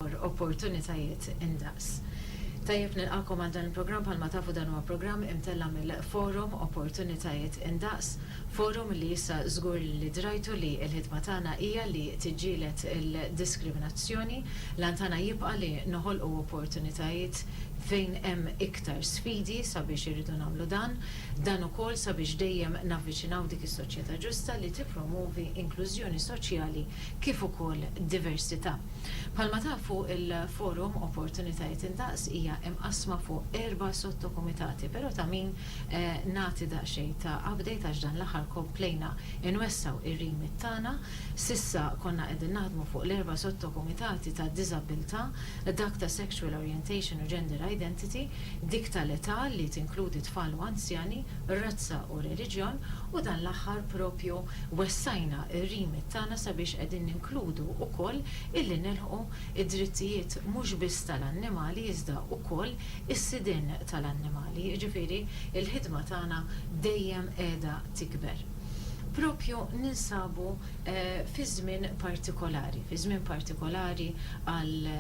dwar opportunitajiet indaqs. Tajjeb nilqagħkom għal dan il-programm bħalma tafu dan huwa programm imtella' mill-forum Opportunitajiet Indaqs, forum li issa żgur li drajtu li l-ħidma tagħna hija li tiġġieled il-diskriminazzjoni, l-għan tagħna jibqa' li noħolqu opportunitajiet fejn hemm iktar sfidi sabiex irridu nagħmlu dan, dan ukoll sabiex dejjem navviċinaw dik is-soċjetà ġusta li tippromwovi inklużjoni soċjali kif ukoll diversità. Bħalma tafu, il-Forum Opportunitajiet Indaqs hija imqassma fuq erba' sottokumitati, però ta' min nagħti daqsxejn ta' update għax dan l-aħħar komplejna nwessgħu r-remit tagħna. S'issa konna qegħdin naħdmu fuq l-erba' sottokumitati tad-diżabbiltà, dak ta' sexual orientation u gender identity, dik tal-età li tinkludi tfal u anzjani, razza u reliġjon u dan l-aħħar proprju wessajna r-remit tagħna sabiex qegħdin ninkludu wkoll illi nilħqu d-drittijiet mhux biss tal-annimali iżda wkoll is-sidien tal-annimali, jiġifieri l-ħidma tagħna dejjem qiegħda tikber. Proprju ninsabu fi żmien partikolari, fi żmien partikolari għal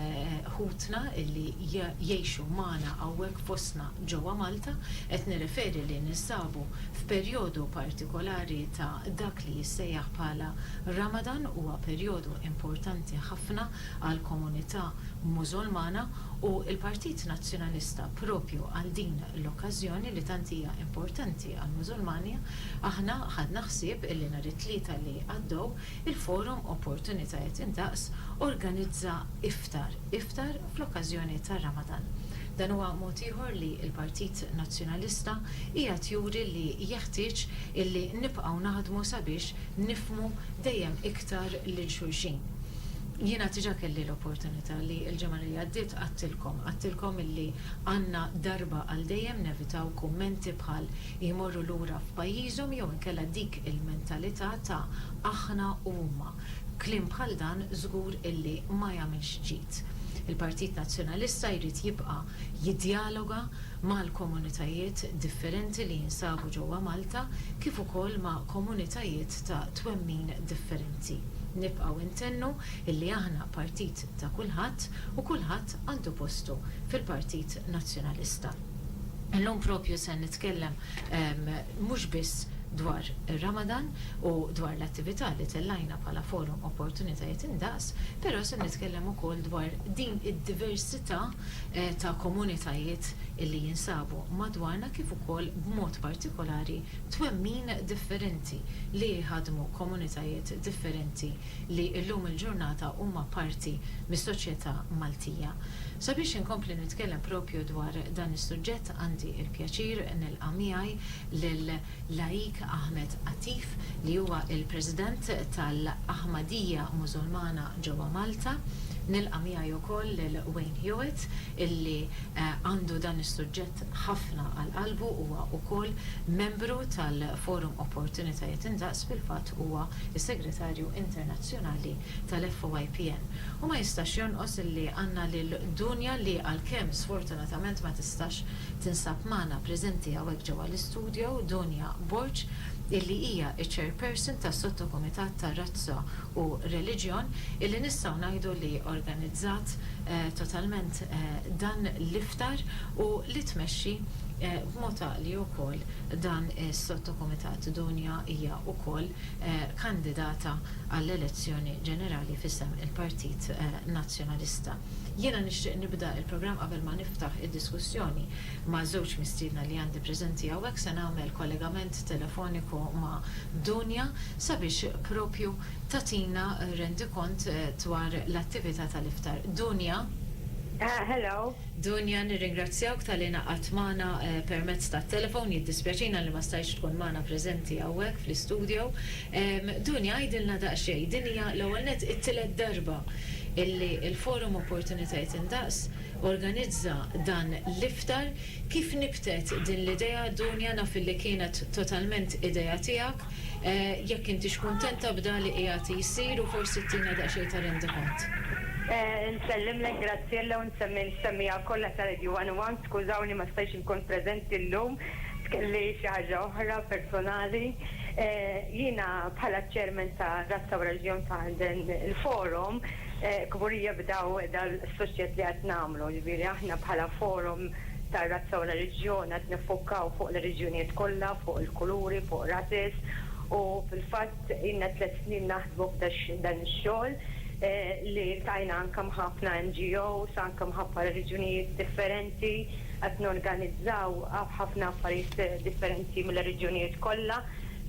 ħutna illi jgħixu magħna hawnhekk fostna Ġewwa Malta, qed nirreferi li ninsabu f'perjodu partikolari ta' dak li jissejjaħ bħala Ramadan, huwa perjodu importanti ħafna għall-komunità Mużulmana u l-Partit Nazzjonalista propju għal din l-okkażjoni li tant hija importanti għall-Mużulmani aħna ħadna ħsieb li nhar it-Tlieta li għaddew il-Forum Opportunitajiet Indaqs organizza iftar, iftar fl-okkażjoni tar-Ramadan. Dan huwa mod ieħor li l-Partit Nazzjonalista qiegħed juri li jeħtieġ illi nibqgħu naħdmu sabiex nifhmu dejjem iktar lil xulxin. Jiena diġà kelli l-opportunità li l-ġimgħa li għaddiet għedtilkom, għedtilkom illi għandna darba għal dejjem nevitaw kummenti bħal jmorru lura f'pajjiżhom jew inkella dik il-mentalità ta' aħna u huma. Kliem bħal dan żgur illi ma jagħmilx ġid. Il-Partit Nazzjonalista jrid jibqa' jiddjaloga mal-komunitajiet differenti li jinsabu ġewwa Malta kif ukoll ma' komunitajiet ta' twemmin differenti. Nibqgħu ntennu illi aħna partit ta' kulħadd u kulħadd għandu postu fil-Partit Nazzjonalista. Illum propju se nitkellem mhux biss dwar ir-Ramadan u dwar l-attività li tellajna bħala Forum Opportunitajiet Indaqs, però se nitkellem ukoll dwar din id-diversità ta' komunitajiet li jinsabu madwarna kif ukoll b'mod partikolari twemmin differenti li jħaddmu komunitajiet differenti li llum il-ġurnata huma parti mis-soċjetà Maltija. Sabiex inkompli nitkellem propju dwar dan is-suġġett għandi l-pjaċir nilqa' miegħi lil Laik Ahmed Atif li huwa l-President tal-Aħmadija Mużulmana ġewwa Malta. Nilqa' miegħi wkoll lil Wayne Hewitt illi għandu dan is-suġġett ħafna għal qalbu, huwa wkoll membru tal-Forum Opportunitajiet Indaqs, fil-fatt huwa is-Segretarju Internazzjonali tal-FOIPN, u ma jistax jonqos li għandna lil Dunja li għalkemm sfortunatament ma tistax tinsab magħna preżenti hawnhekk ġewwa l-istudio, Dunja Borg, illi hija ċ-Chairperson tas-Sottokumitat ta' Razza u Reliġjon illi nistgħu ngħidu li organizzat totalment dan l-iftar u li tmexxi b'mod għaqli wkoll Dan is-sottokumitat Dunja hija wkoll kandidata għall-elezzjoni ġenerali f'isem il-Partit Nazzjonalista. Jiena nixtieq nibda il-programm qabel ma niftaħ id-diskussjoni ma' żewġ mistiedna li għandi preżenti hawnhekk se nagħmel kollegament telefoniku ma' Dunja sabiex propju tagħtina rendikont dwar l-attività tal-iftar. Dunja? Hello. Dunja, nirringrazzjawk talli ingħaqadt magħna permezz tat-telefon, jiddispjaċina li ma stajtx tkun magħna preżenti hawnhekk fl-istudio. Dunja, għidilna daqsxejn, din hija l-ewwel nett it-tielet darba illi l-Forum Opportunitajiet Indaqs organizza dan l-iftar. Kif nibtet din l-idea, Dunja, naf illi kienet totalment idea tiegħek, Jekk intix kuntenta b'dak li qiegħed jsir u forsi tina daqsxejn ta' rendikont. Nsellimlek Graziella u nsemmi l-semmiegħa kollha ta' Radio One u One. Skużawni ma stajtx inkun preżenti llum, kelli xi ħaġa oħra personali. Jiena bħala ċ-Chairman ta' Razza u Reġjon ta' dan il-forum kburija b'daw dal-suċċess li qed nagħmlu. Jiġifieri aħna bħala forum, tar-razza u r-reliġjon qed niffukkaw fuq l-oriġinijiet kollha, fuq il-kuluri, fuq races u fil-fatt ilna tliet snin naħdmu f'dan ix-xogħol li ltqajna anke ma' ħafna NGOs anke mħabba reliġjonijiet differenti qed norganizzaw ħafna affarijiet differenti mill-oriġinijiet kollha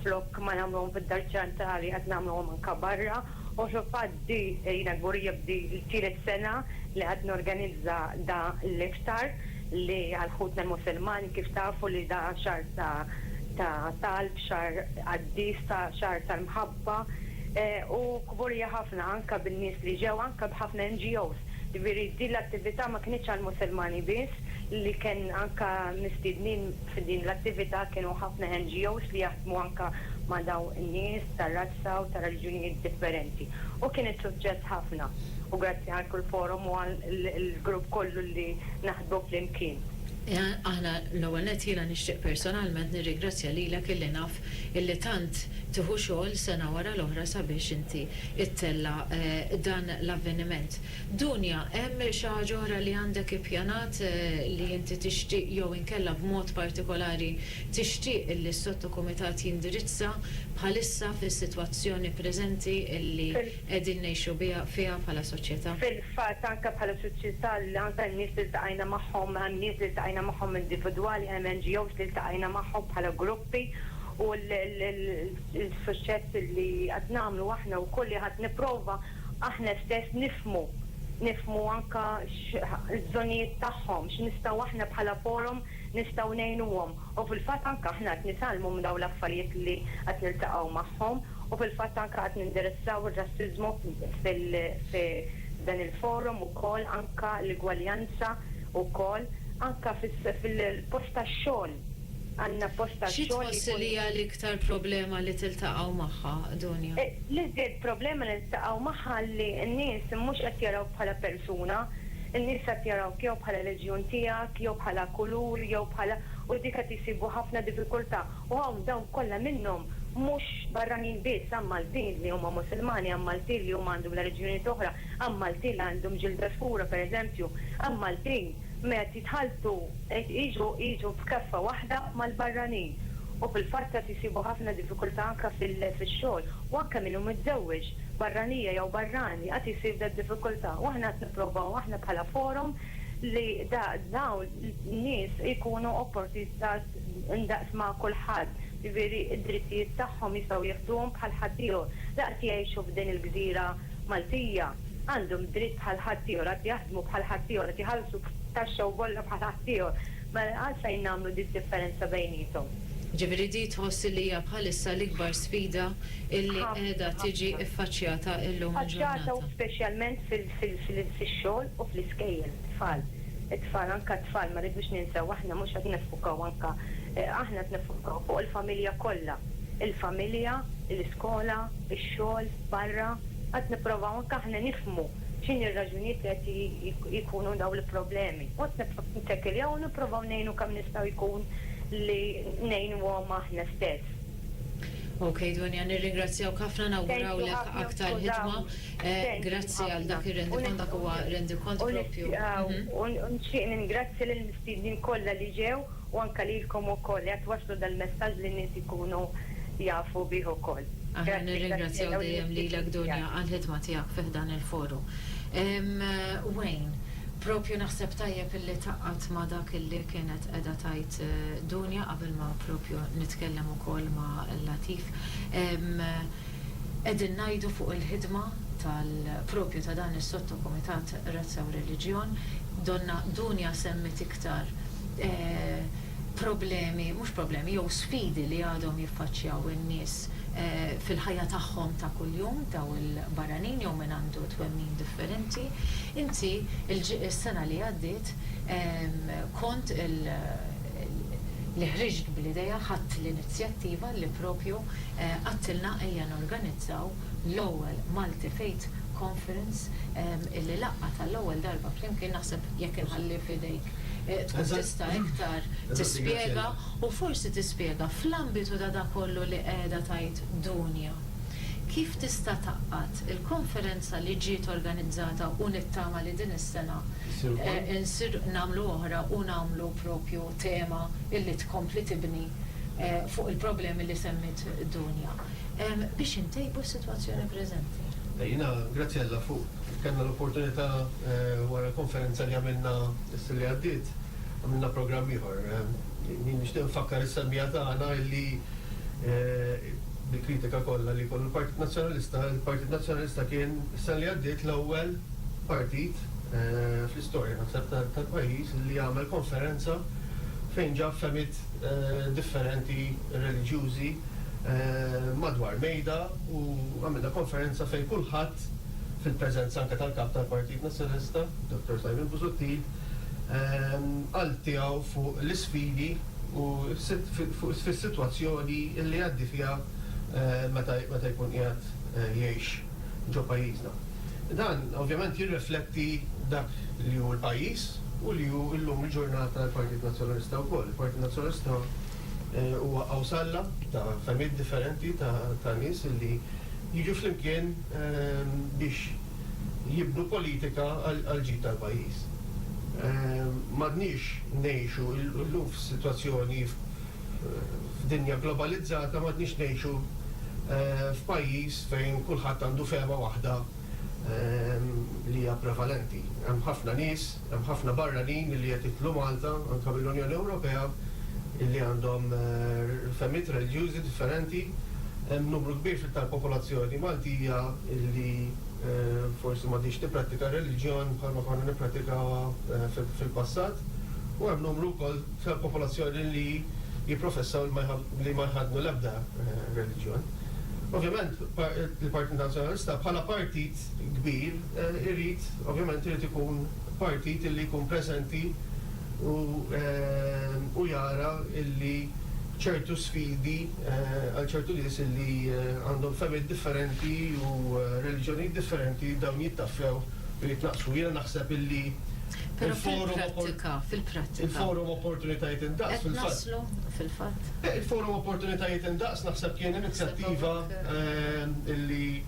flok ma nagħmluhom fid-Dar Ċentrali qed nagħmluhom anke barra. U fil-fatt di jiena kburija b'di t-tielet sena li qed norganizza da l-iftar li għal ħutna l-Musulmani kif tafu li da xahar ta' talb, xahar qaddis, ta' xahar tal-mħabba u kburija ħafna anke bin-nies li ġew anke b'ħafna NGOs. Jiġifieri din l-attività ma kinitx għall-Musulmani biss li kien anke mistiednin f'din l-attività kienu ħafna NGOs li jaħdmu anke ma' dawn in-nies ta' razza u ta' reliġjunijiet differenti. U kien is-suċċess ħafna. U grazzi għal kull forum u għall-grupp kollu li naħdmu flimkien. Aħna, l-ewwel nett jiena nixtieq personalment nirrigrazzja lilek illi naf illi tant tieħu xogħol sena wara l-oħra sabiex inti ittella' dan l-avveniment. Dunja, hemm xi ħaġa oħra li għandek ippjanat li inti tixtieq jew inkella b'mod partikolari Tixtieq li s-Sottokumitat jindirizza bħalissa fis-sitwazzjoni preżenti li qegħdin ngħixu fiha bħala soċjetà. Fil-fatt anke bħala soċjetà anke n-nies li ltaqajna magħhom, hemm nies li ltaqajna magħhom individwali, hemm NGOs li ltaqajna magħhom bħala gruppi u l-suċċess li qed nagħmlu aħna wkoll li qed nipprova aħna stess nifhmu, nifhmu anke l-bżonnijiet tagħhom, x'nistgħu aħna bħala forum nistgħu ngħinuhom u fil-fatt anke aħna qed nitgħallmu minn dawn l-affarijiet li qed niltaqgħu magħhom u fil-fatt anke qed nindirezzaw ir-rassiżmu f'dan il-forum ukoll anke l-igwaljanza wkoll anke fil-post tax-xogħol għandna post tax-xogħol li jkun. Xi tħossi li hija l-iktar problema li tiltaqgħu magħha, Dunja? L-iżjed problema li niltaqgħu magħha li n-nies mhux qed jarawk bħala persuna, In-nies qed jarawk jew bħala reġjun tiegħek, jew bħala kulur, jew bħala, u dik qed isibu ħafna diffikultà. U hawn dawn kollha minnhom mhux barranin biss, hawn Maltin li huma Musulmani, hawn Maltin li huma għandhom l-reliġjunijiet oħra, hawn Maltin li għandhom ġilda skura pereżempju, hawn Maltin ma qed jitħalltu, qed jiġu jiġu f'keffa waħda mal-barranin. U fil-fatt qed isibu ħafna diffikultà anke fil-xogħol. U anke min hu miżżewweġ, barranija jew barrani, qed isib dad-diffikultà. U aħna qed. Nippruvaw aħna bħala forum li dawn in-nies ikunu opportunitas ndaqs ma' kulħadd, jiġifieri d-drittijiet tagħhom jistgħu jieħduhom bħal ħaddieħor. Daqs jgħixu f'din il-gżira Maltija, għandhom dritt bħal ħaddieħor, qed jaħdmu bħal ħaddieħor, qed iħallsu taxxa u bolla bħal ħaddieħor. Mela għalfejn nagħmlu din id-differenza bejniethom? Jiġifieri din tħoss li hija bħalissa l-ikbar sfida li qiegħda tiġi ffaċċjata llum il-ġurnata? Ħafna, ħafna u speċjalment fix-xogħol u fl-iskejjel, it-tfal. It-tfal, anke t-tfal, ma rridux ninsew aħna mhux qed niffukaw anke, aħna qed niffukaw fuq il-familja kollha. Il-familja, l-iskola, ix-xogħol, barra, qed nipprovaw anke aħna nifhmu. x'inhi r-raġunijiet li qed jkunu dawn il-problemi. Mbagħad nibqgħu nittekiljaw u nipprovaw ngħinu kemm nista' jkun li ngħinuhom aħna stess. Ok Donia, nirringrazzjawk ħafna, nawgurawlek aktar ħidma. Grazzi għal dak ir-rendikont, dak huwa rendikont proprju. U nixtieq ningrazzja lill-mistiednin kollha li ġew. u anke lilkom ukoll li qed twasslu dal-messaġġ li n-nies ikunu jafu bih ukoll. Aħna nirringrazzjaw dejjem lilek Dunja għall-ħidma tiegħek fi ħdan il-Forum. Wayne, propju naħseb tajjeb illi tgħaqqadt ma' dak illi kienet qiegħda tgħid Dunja qabel ma propju nitkellem ukoll ma' Latif. Qegħdin ngħidu fuq il-ħidma tal propju ta' dan is-Sottokumitat Razza u Reliġjon. Donna Dunja semmiet iktar problemi, mhux problemi, jew sfidi li għadhom jiffaċċjaw in-nies fil-ħajja tagħhom ta' kuljum, dawn il-barranin jew min għandu twemmin differenti. Inti s-sena li għaddiet kont li ħriġt bl-idea, ħadt l-inizjattiva li propju għedtilna ejja norganizzaw l-ewwel Multi Faith Conference illi laqgħat għall-ewwel darba flimkien naħseb jekk inħalli f'idejk tkun tista' iktar tispjega u forsi tispjega fl-ambitu ta' dak kollu li qiegħda tgħid Dunja kif tista' tgħaqqad il-konferenza li ġiet organizzata u nittama li din is-sena nagħmlu oħra u nagħmlu propju tema illi tkompli tibni fuq il-problemi li semmiet Dunja. biex intejbu s-sitwazzjoni preżenti. Jiena, grazzi Alla, fuq kellna l-opportunità wara l-konferenza li għamilna s-sena li għaddiet, għamilna programm ieħor. Jien nixtieq nfakkar is-semmiegħa tagħna illi bil-kritika kollha li jkollu l-Partit Nazzjonalista, il-Partit Nazzjonalista kien is-sena li għaddiet l-ewwel partit fl-istorja naħseb tal-pajjiż li għamel konferenza fejn ġab fehmiet differenti, reliġjużi madwar mejda u għamilna konferenza fejn kulħadd, fil-preżenza anke tal-Kap tal-Partit Nazzjonalista, Dottor Simon Busuttil, qal tiegħu fuq l-isfidi u fis-sitwazzjoni li jgħaddi fiha meta jkun qiegħed jgħix ġo pajjiżna. Dan ovvjament jirrefletti dak li hu l-pajjiż u li hu llum il-ġurnata l-Partit Nazzjonalista wkoll. Il-Partit Nazzjonalista. Huwa għawsalla ta' fehmiet differenti ta' nies li jiġu flimkien biex jibnu politika għall-ġid tal-pajjiż. M'għadniex ngħixu, illum f'sitwazzjoni, f'dinja globalizzata, m'għadniex ngħixu f'pajjiż fejn kulħadd għandu fehma waħda li hija prevalenti. Hemm ħafna nies Hemm ħafna barranin li qed jidħlu Malta, anke mill-Unjoni Ewropea, li għandhom fehmiet reliġjużi differenti. Hemm numru kbir tal-popolazzjoni Maltija li forsi m'għadhiex tipprattika r-reliġjon bħalma konna nipprattikawha fil-passat, u hemm numru wkoll tal-popolazzjoni li jipprofessaw li ma jħaddnu l-ebda reliġjon. Ovvjament, il-Partit Nazzjonalista bħala partit, kbir irid ovvjament irid ikun partit illi jkun preżenti u u jara illi ċertu sfidi għal ċertu nies illi għandhom fehmiet differenti u reliġjonijiet differenti dawn jittaffew u jitnaqqsu. Jiena naħseb illi Però fil-prattika, fil-prattika. Il-forum Opportunitajiet Indaqs fil-fatt. Qed naslu fil-fatt. Il-forum Opportunitajiet Indaqs naħseb kien inizjattiva illi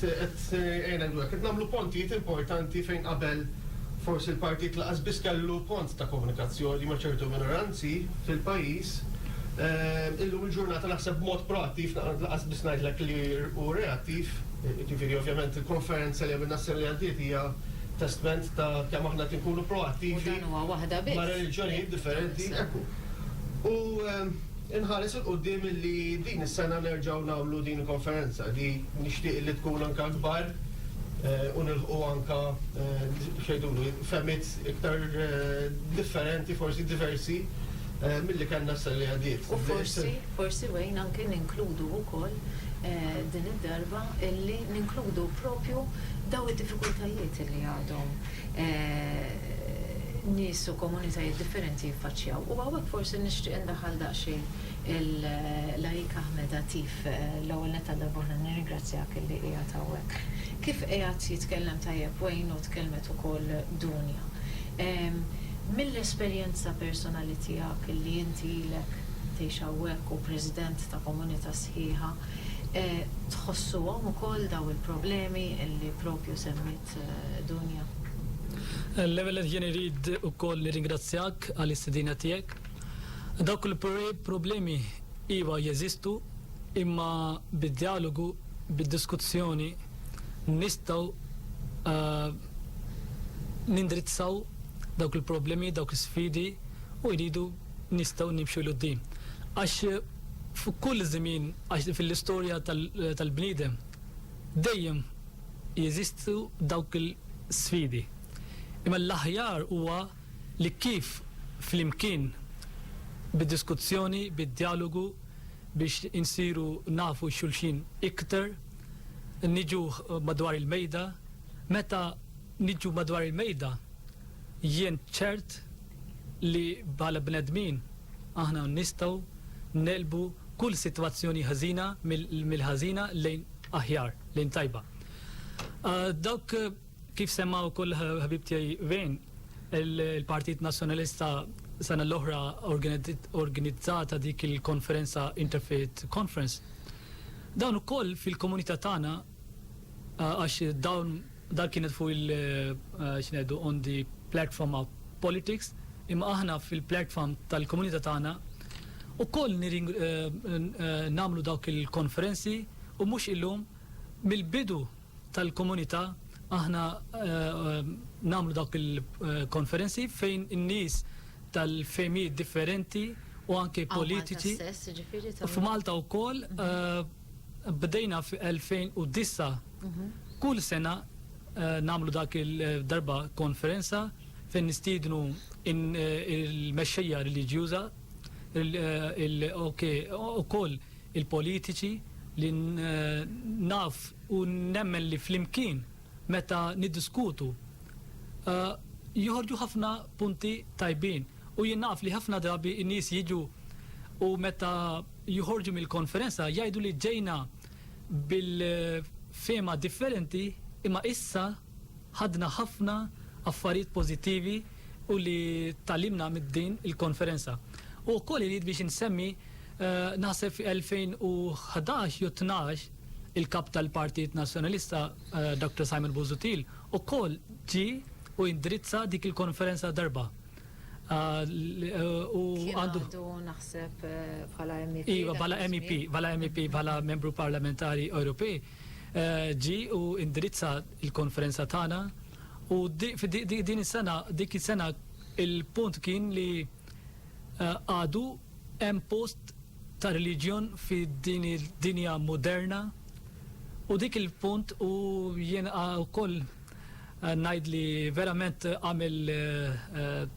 Qed ngħinek dwar hekk. Qed nagħmlu pontijiet importanti fejn qabel forsi l-partit lanqas biss kellu pont ta' komunikazzjoni ma' ċertu minoranzi fil-pajjiż. Illum il-ġurnata naħseb b'mod proattiv, lanqas biss ngħidlek li hu reattiv, jiġifieri ovvjament il-konferenza li għamilna s-sena li għaddiet hija testment ta' kemm aħna qed inkunu proattivi ma' reliġjonijiet differenti. Ekku. U Inħares 'il quddiem illi din is-sena nerġgħu nagħmlu din il-konferenza li nixtieq illi tkun anke akbar u nilħqu anke x'għidulu fehmiet iktar differenti forsi diversi milli kellna s-sena li għaddiet. U forsi, forsi Wayne, anke ninkludu wkoll din id-darba illi ninkludu propju dawn id-diffikultajiet illi għadhom. nies u komunitajiet differenti jiffaċċjaw. U hawnhekk forsi nixtieq indaħħal daqsxejn il-Lajk Ahmed Atif. L-ewwel nett għal darbohra nirringrazzjak illi qiegħed hawnhekk. Kif qiegħed jitkellem tajjeb Wayne u tkellmet ukoll Dunja, mill-esperjenza personali tiegħek illi inti ilek tgħix hawnhekk u president ta' komunità sħiħa, tħossuhom ukoll dawn il-problemi illi proprju semmiet? Grazie Dunja. L-ewwel nett jien irid ukoll nirringrazzjak għall-istedina tiegħek. Dawk il-problemi iva jeżistu imma bid-djalogu, bid-diskussjoni nistgħu nindrizzaw dawk il-problemi, dawk is-sfidi u jridu nistgħu nimxu 'l quddiem. Għax f'kull żmien, għax fil-istorja tal-bniedem dejjem jeżistu dawk il-sfidi. Imma l-aħjar huwa li kif flimkien bid-diskuzzjoni, bid-djalogu biex insiru nafu xulxin iktar, niġu madwar il-mejda. Meta niġu madwar il-mejda jien ċert li bħala bnedmin aħna nistgħu negħlbu kull sitwazzjoni ħażina mill-ħażina lejn aħjar. lejn tajba. Dawk kif semma wkoll ħabib tiegħi Vejn, il-Partit Nazzjonalista sena l-oħra organizzata dik il-konferenza Interfaith Conference. Dawn ukoll fil-komunità tagħna għax dawn dan kienet fuq il xnedu on the platform of politics imma aħna fil-platform tal-komunità tagħna ukoll nagħmlu dawk il-konferenzi U mhux illum, mill-bidu tal-komunità aħna nagħmlu dawk il-konferenzi fejn in-nies tal-fehmijiet differenti u anke politiċi, f'Malta wkoll bdejna fl-2009, kull sena nagħmlu dak il-darba konferenza fejn nistiednu il-mexxejja reliġjuża, ukoll il-politiċi li naf u nemmen li flimkien meta niddiskutu joħorġu ħafna punti tajbin u jien naf li ħafna drabi n-nies jiġu u meta joħorġu mill-konferenza jgħidu li ġejna bil-fehma differenti imma issa ħadna ħafna affarijiet pożittivi u li tgħallimna minn din il-konferenza. U wkoll irid biex insemmi Naħseb fi 2011 jew tnax il-Kap tal-Partit Nazzjonalista, Doctor Simon Busuttil, ukoll ġie u indirizza dik il-konferenza darba. U Kien għandu. għadu naħseb bħala MEP. Iva, dak bħala MEP, iż-żmien. bħala MEP, bħala Membru Parlamentari Ewropej, ġie u indirizza l-konferenza tagħna u di fi di di din is-sena dik is-sena il-punt kien li. Għadu hemm post ta' reliġjon fi din id-dinja moderna? U dik il-punt u jien ukoll ngħid li verament għamel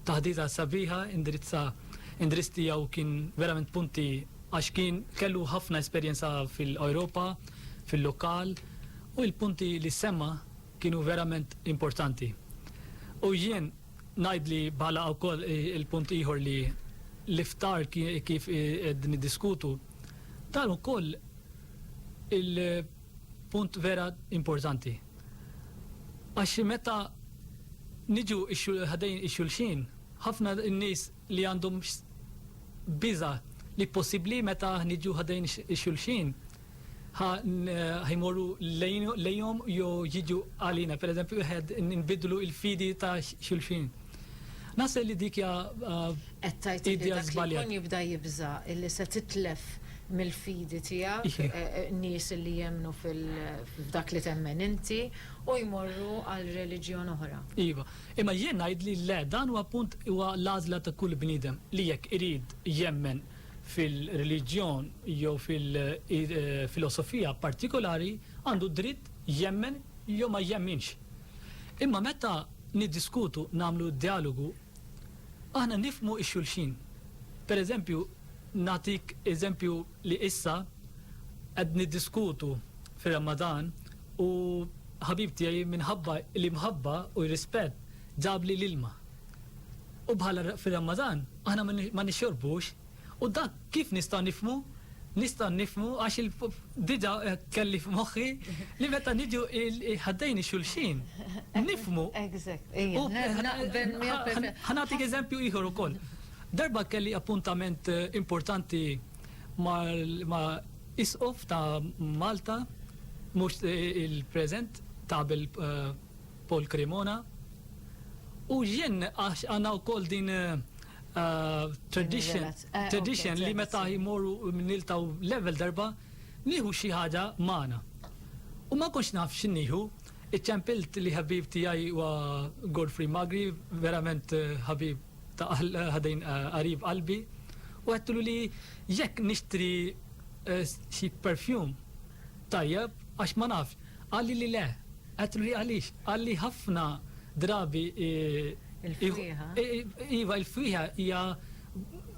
taħdita sabiħa indirizza indirizz tiegħu kien verament punti għax kien kellu ħafna esperjenza fil-Ewropa, fil-lokal u l-punti li semma kienu verament importanti. U jien, Ngħid li bħala wkoll il-punt ieħor li l-iftar kif qed niddiskutu dan ukoll il-punt vera importanti. Għax meta niġu ħadejn ix-xulxin, ħafna nies li għandhom biża' li possibbli meta niġu ħadejn ix-xulxin Ħa jmorru lejhom jew jiġu għalina, pereżempju wieħed nbiddlu l-fidi ta' xulxin. Naħseb li dik hija idea żbaljata. Qed tgħid li dak li jkun jibda jibża' li se titlef mill-fidi tiegħek nies li jemmnu f'dak li temmen inti u jmorru għal reliġjon oħra. Iva. Imma jien ngħidli le, dan huwa punt, huwa l-għażla ta' kull bniedem li jekk irid jemmen, fil-reliġjon jew fil-filosofija partikolari għandu d-dritt jemmen jew ma jemminx. Imma meta niddiskutu, nagħmlu djalogu, aħna nifhmu x-xulxin. Per eżempju, nagħtik eżempju li issa qed niddiskutu fir-Ramadan u ħabib tiegħi minħabba l-imħabba u r-rispett ġabli l-ilma. U bħala fir-Ramadan, aħna ma nixxorbux. U dak kif nista' nifhmu? Nista' nifhmu għax diġà kelli f'moħħi li meta niġu ħaddejn xulxin, nifhmu. Ħa nagħtik eżempju ieħor ukoll. Darba kelli appuntament importanti ma' Isqof ta' Malta, mhux il-preżent, ta' qabel Paul Cremona, U jien għax għandna wkoll din tradition, tradition li meta jmorru niltaw level darba, nieħu xi ħaġa magħna. U ma konx naf x'innieħu, iċċempilt li ħabib tiegħi huwa Godfrey Magri, verament ħabib ta' ħadejn qarib qalbi, u għedtlu li jekk nixtri xi perfume tajjeb għax ma nafx, qalli li le, Qed li għaliex? Għalli ħafna drabi i. Il-fwieħa. Iva, il-fwieħa hija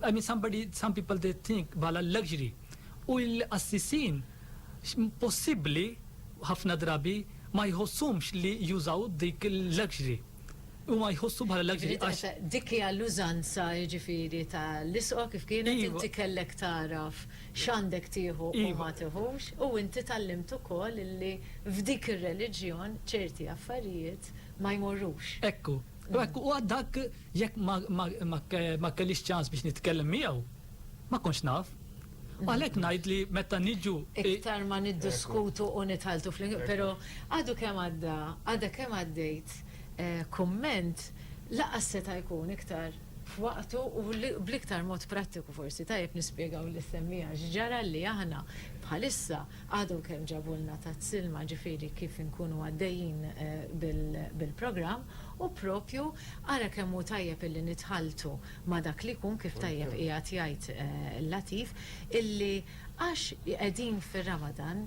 I mean somebody, some people they think bħala luxury. U l-qassisin possibbli ħafna drabi ma jħosshomx li jużaw dik il-luxury. Huma jħossu bħala l-akbar għax. Dik hija l-użanza jiġifieri ta' l-isqo kif kienet inti kellek tagħraf x'għandek tieħu u ma tiħux u inti tgħallimt ukoll illi f'dik ir-reliġjon ċerti affarijiet ma jmorrux. Hekk hu. U hekk hu għad dak jekk ma kellix ċans biex nitkellem miegħu ma kontx naf. U għalhekk ngħid li meta niġu. Iktar ma niddiskutu u nitħalltu flimkien, però għadu kemm għadda, għadha kemm għaddejt kumment lanqas seta' jkun iktar f'waqtu u bl-iktar mod prattiku forsi tajjeb nispjegaw lis-semmiegħa x'ġara li aħna bħalissa għadhom kemm ġabulna Tat Silma ġifieri kif inkunu għaddejjin bil-programm u proprju ara kemm hu tajjeb illi nitħalltu ma' dak li jkun, kif tajjeb qiegħed jgħid Latif, illi għax qegħdin fir-Ramadan,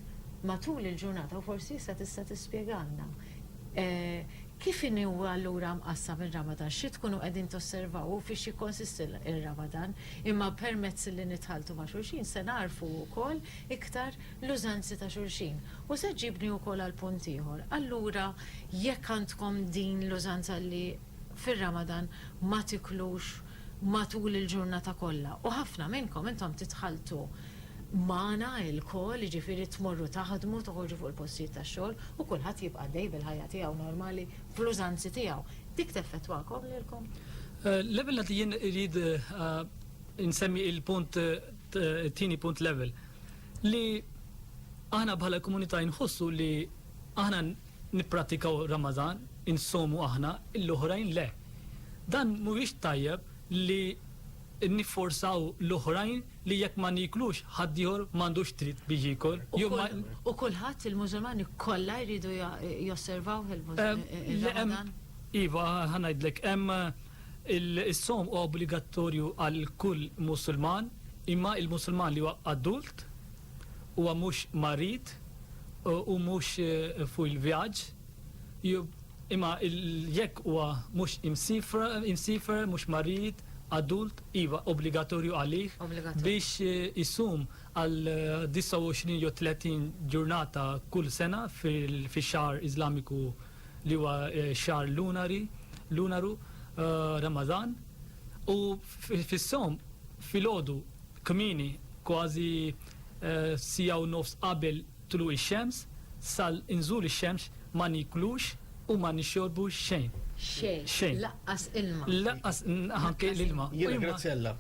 matul il-ġurnata, u forsi issa tista' tispjegalna, kif inhu allura mqassam ir-Ramadan, xi tkunu qegħdin tosservaw u fiex jikkonsisti r-Ramadan, imma permezz li nitħalltu ma' xulxin se nagħrfu wkoll iktar l-użanzi ta' xulxin. U se ġġibni wkoll għal punt ieħor, allura jekk għandkom din l-użanza li fir-Ramadan ma tiklux matul il-ġurnata kollha u ħafna minnkom intom tidħaltu magħna ilkoll, jiġifieri tmorru taħdmu, toħorġu fuq il-postijiet tax-xogħol u kulħadd jibqa' għaddej bil-ħajja tiegħu normali fl-użanzi tiegħu. Dik teffettwakom lilkom? L-ewwel nett jien irrid insemmi il-punt it-tieni punt l-ewwel li aħna bħala komunità inħossu li aħna Nippratikaw Ramadan, insomu aħna, l-oħrajn le. Dan mhuwiex tajjeb li nifforzaw l-oħrajn li jekk ma nieklux ħaddieħor m'għandux dritt biex jiekol jew ma. U kulħadd, il-Musulmani kollha jridu josservawh ir-Ramadan? Iva, ħa ngħidlek, hemm is-sawm huwa obbligattorju għal kull Musulman, imma l-Musulman li huwa adult Huwa mhux marid u mhux fuq il-vjaġġ, imma jekk huwa mhux imsiefer, mhux marid, adult, iva, obbligatorju għalih biex isum għal 29 jew 30 ġurnata kull sena fix-xahar Iżlamiku li huwa x-xahar lunari, lunaru, Ramadhan, u fis-sawm filgħodu, Kmieni, kważi siegħa u nofs qabel tluq ix-xemx, sal inżul ix-xemx ma niklux u ma nixorbu xejn. Xejn. Xejn. Laqqas ilma. Laqqas anke l-ilma. Jiena Graziella,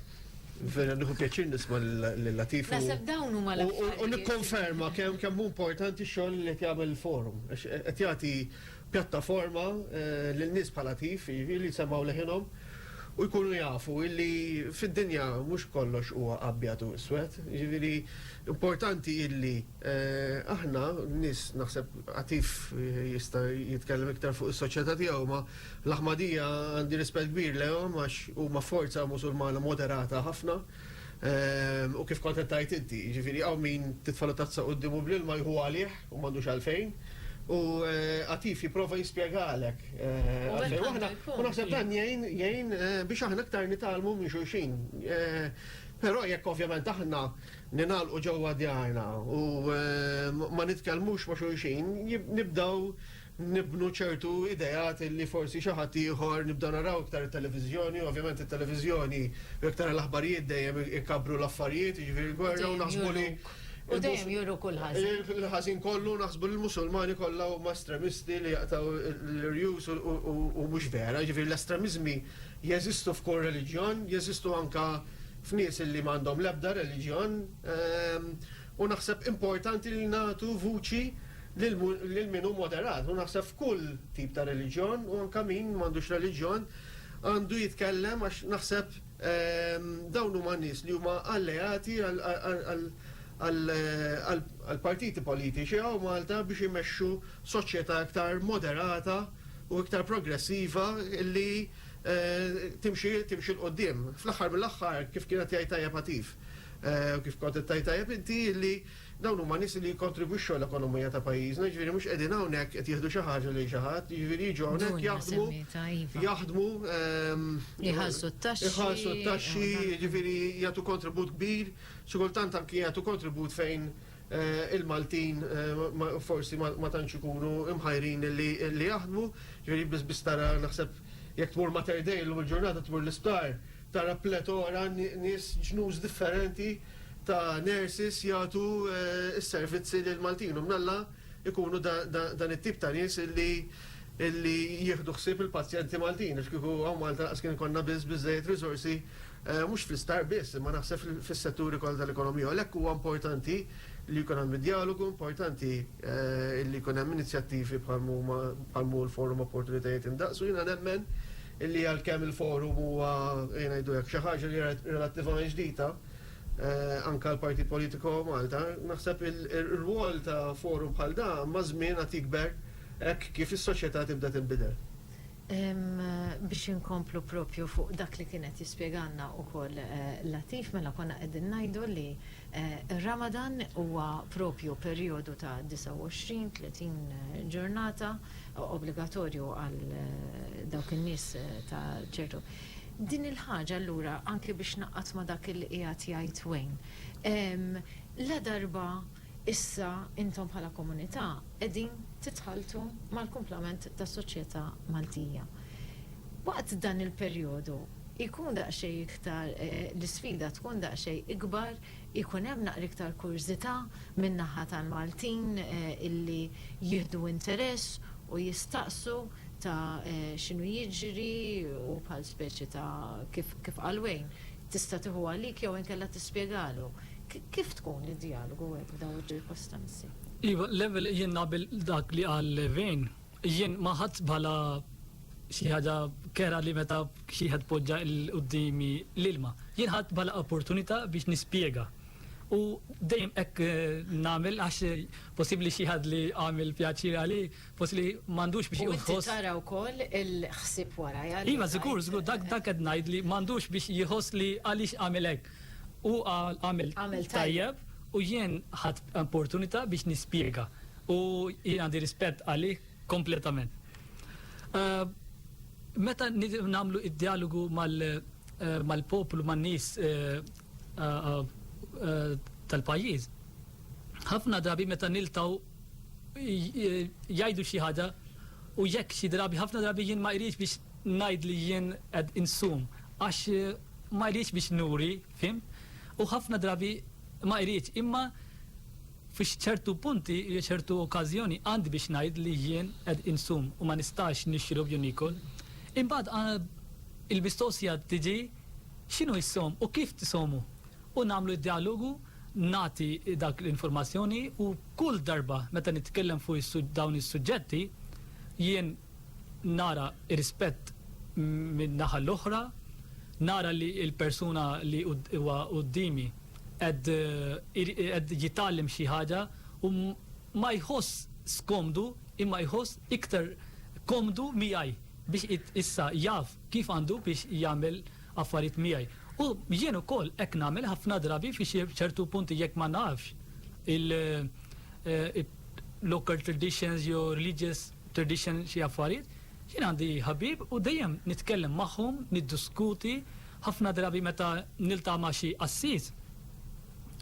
vera nieħu pjaċir nisma' lil Latif u. Naħseb dawn huma l-affarijiet. U nikkonferma kemm hu importanti x-xogħol li qed jagħmel il-Forum. Għax qed jagħti Pjattaforma lil nies bħala tif, jiġifieri li jsemmgħu leħinhom u jkunu jafu illi fid-dinja mhux kollox huwa abjad u iswed. Jiġifieri importanti illi aħna, nies naħseb Atif jista' jitkellem iktar fuq is-soċjetà tiegħu, imma l-Aħmadija għandi rispett kbir lejhom għax huma forza Musulmana moderata ħafna u kif kont qed tgħid inti, jiġifieri hawn min titfagħlu tazza quddiemu bl-ilma jħu għalih, U m'għandux għalfejn. U Atif jipprova jispjegalek għalfejn. U aħna, u naħseb dan jgħin jgħin biex aħna aktar nitgħallmu minn xulxin. Però jekk ovvjament aħna ningħalqu ġewwa djarna u ma nitkellmux ma' xulxin, nibdew nibnu ċertu ideat li forsi xi ħadd ieħor nibdew naraw iktar it-televiżjoni u ovvjament it-televiżjoni u jekk tara l-aħbarijiet dejjem ikabbru l-affarijiet, jiġifieri l-gwerra u naħsbu li U dejjem juru kull ħażin. Il-ħażin kollu naħsbu li l-Musulmani kollha huma estremisti li jaqtgħu l-irjus u mhux vera, jiġifieri l-estremiżmi jeżistu f'kull reliġjon, jeżistu anke f'nies li m'għandhom l-ebda reliġjon. U naħseb importanti li nagħtu vuċi lil lil min hu moderat, u naħseb f'kull tip ta' reliġjon, u anke min m'għandux reliġjon għandu jitkellem għax naħseb dawn huma nies li huma alleati għal għal għal għal għall-partiti politiċi hawn Malta biex imexxu soċjetà iktar moderata u iktar progressiva li timxi timxi 'l quddiem. Fl-aħħar mill-aħħar, kif kien qed jgħid tajjeb Atif, u kif kont qed tgħid tajjeb inti, li dawn huma nies li jikkontribwixxu għall-ekonomija ta' pajjiżna, jiġifieri mhux qegħdin hawnhekk qed jieħdu xi ħaġa lil xi ħadd, jiġifieri jiġu hawnhekk jaħdmu, jaħdmu, iħallsu t-taxxi, jiġifieri jagħtu kontribut kbir, xi kultant anki jagħtu kontribut fejn, il-Maltin forsi ma tantx ikunu mħajrin li jaħdmu, ġifieri biss biss tara naħseb jekk tmur Mater Dei llum il-ġurnata tmur l-isptar tara pletora nies ġnus differenti ta' nurses jagħtu s-servizzi lill-Maltin u mnalla jkunu dan it-tip ta' nies li jieħdu ħsieb il-pazjenti Maltin għax kieku hawn Malta lanqas kien ikollna biżżejjed riżorsi mhux fl-isptar biss, imma naħseb fis-setturi kollha tal-ekonomija. U għalhekk huwa importanti li jkun hemm id-djalogu, importanti li jkun hemm inizjattivi bħal huma bħal hu l-Forum Opportunitajiet Indaqs. U jiena nemmen li għalkemm il-Forum huwa, ejja ngħidu hekk, xi ħaġa li hija relattivament ġdida, anke għall-Partit Politiku Malta, naħseb ir-rwol ta' Forum bħal dan maż-żmien għad jikber hekk kif is-soċjetà tibda tinbidel. Biex inkomplu proprju fuq dak li kien qed jispjegalna wkoll Latif, mela konna qegħdin ngħidu li r-Ramadan huwa proprju perijodu ta' 29, 30 ġurnata obbligatorju għal dawk in-nies ta' ċertu. Din il-ħaġa allura anki biex ngħaqqad ma' dak li qiegħed jgħid Wayne, ladarba Issa intom bħala komunità qegħdin titħalltu mal-kumplament tas-soċjetà Maltija. Waqt dan il-perjodu jkun daqsxejn iktar l-isfida tkun daqsxejn ikbar, ikun hemm naqra iktar kurżità min-naħa tal-Maltin illi jieħdu interess u jistaqsu ta' x'inhu jiġri u bħal speċi ta' kif kif qalwejn. Tista' tieħu għalik jew inkella tispjegalu. Kif tkun id-djalogu hekk f'dawn iċ-ċirkostanzi? Iva, l-ewwel jien naqbel dak li qal Vane. Jien ma ħadtx bħala xi ħaġa kera li meta xi ħadd poġġa quddiemi l-ilma. Jien ħadt bħala opportunità biex nispjega. U dejjem hekk nagħmel għax possibbli xi ħadd li għamel pjaċir għalih Fost li m'għandux biex jieħu ħoss. Tara wkoll il-ħsieb wara. Iva, żgur, żgur, dak dak qed ngħid li m'għandux biex jieħoss li għaliex għamel hekk. U għamel tajjeb u jien ħadd opportunità biex nispjega. U jien għandi rispett għalih kompletament. Eh, meta nagħmlu id-dialogu eh, mal-poplu, man-nies eh, tal-pajjiż, ħafna drabi meta niltaw jgħidu xi ħaġa u jekk xi drabi ħafna drabi jien ma jridx biex ngħid li jien qed insum għax ma jridx biex nuri, fim? U ħafna drabi ma jridx imma fix ċertu punti, ċertu okkażjoni għandi biex ngħid li jien qed insum u ma nistax nixrob jew nikol. Imbagħad il-mistoqsija tiġi x'inhu jissom u kif tisomu u nagħmlu d-dialogu nagħti dak l-informazzjoni u kull darba meta nitkellem fuq dawn is-suġġetti jien nara rispett min-naħa l-oħra, nara li l-persuna li huwa quddiemi qed jitgħallem xi ħaġa u ma jħoss skomdu imma jħoss iktar komdu miegħi biex issa jaf kif għandu biex jagħmel affarijiet miegħi. U jien ukoll hekk nagħmel ħafna drabi fi xi ċertu punti jekk ma nafx il local traditions jew religious tradition xi affarijiet, jien għandi ħabib u dejjem nitkellem magħhom, niddiskuti, ħafna drabi meta niltaqa' ma' xi qassis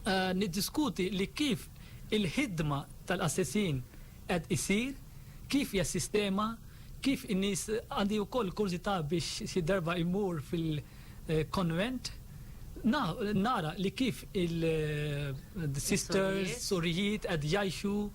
niddiskuti li kif il-ħidma tal-qassisin, qed isir, kif hija s-sistema, kif in-nies, għandi wkoll kurżità biex xi darba immur fil-konvent nara li kif il-sisters, sorijiet qed jgħixu